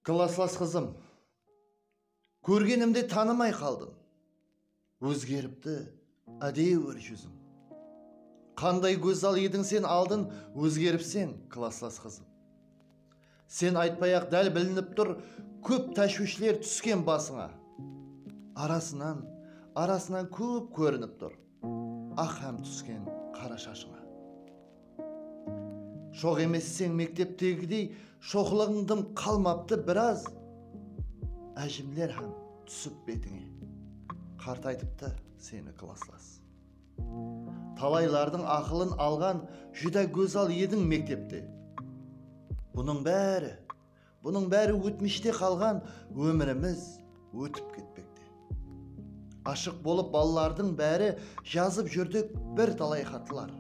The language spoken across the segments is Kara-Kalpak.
Klaslas qızım, kórgenimde tanımay qaldım. Ózgeripti ádewir júziń. Qanday gózzal ediń sen aldın ózgeripseń, klaslas qızım. Sen aytpay-aq dál bilinip tur kóp táshwishler túsken basıńa. Arasınan, arasınan kóp kórinip tur. Aq hám túsken qara shashıńa. Shoq emesseń mekteptegidey Shoqlıǵıń dım qalmaptı biraz Ájimler hám túsip betińe. Qartaytıptı seni klasslas. Talaylardıń aqılın alǵan Júdá gózzal ediń mektepte. Bunıń bári Bunıń bári ótmishte qalǵan ómirimiz ótip ketpekte. Ashıq bolıp balalardıń bári jazıp júrdik bir talay xatlar.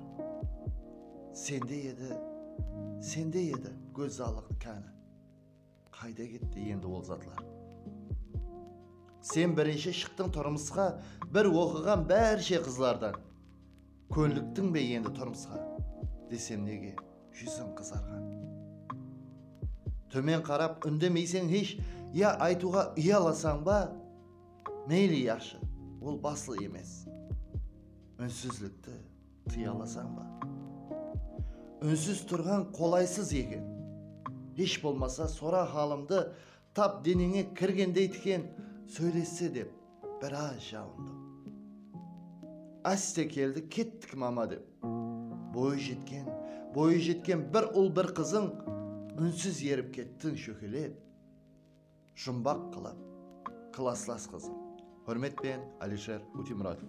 Sende edi, sende edi gózzalıq káni. Qayda ketti endi ol zatlar. Sen birinshi shıqtıń turmısqa bir oqıǵan bárshe qızlardan. Kónliktiń be endi turmısqa? desem nege júziń qızarǵan? Tómen qarap úndemeyseń hesh ya aytıwǵa uyalasań ba? Meyli yaqshı, ol baslı emes. Únsizlikti tıyalasań ba? Únsiz turǵan qolaysız eken. Hesh bolmasa sora halımdı Tap deneńe kirgendey tiken sóylesse dep biraz jalındım. Áste keldi kettik mama dep. Boyı jetken, boyı jetken bir ul bir qızıń únsiz erip kettin shókelep, jumbaq qılıp klaslas qızıń. Húrmetpen, Alisher Utimuratov.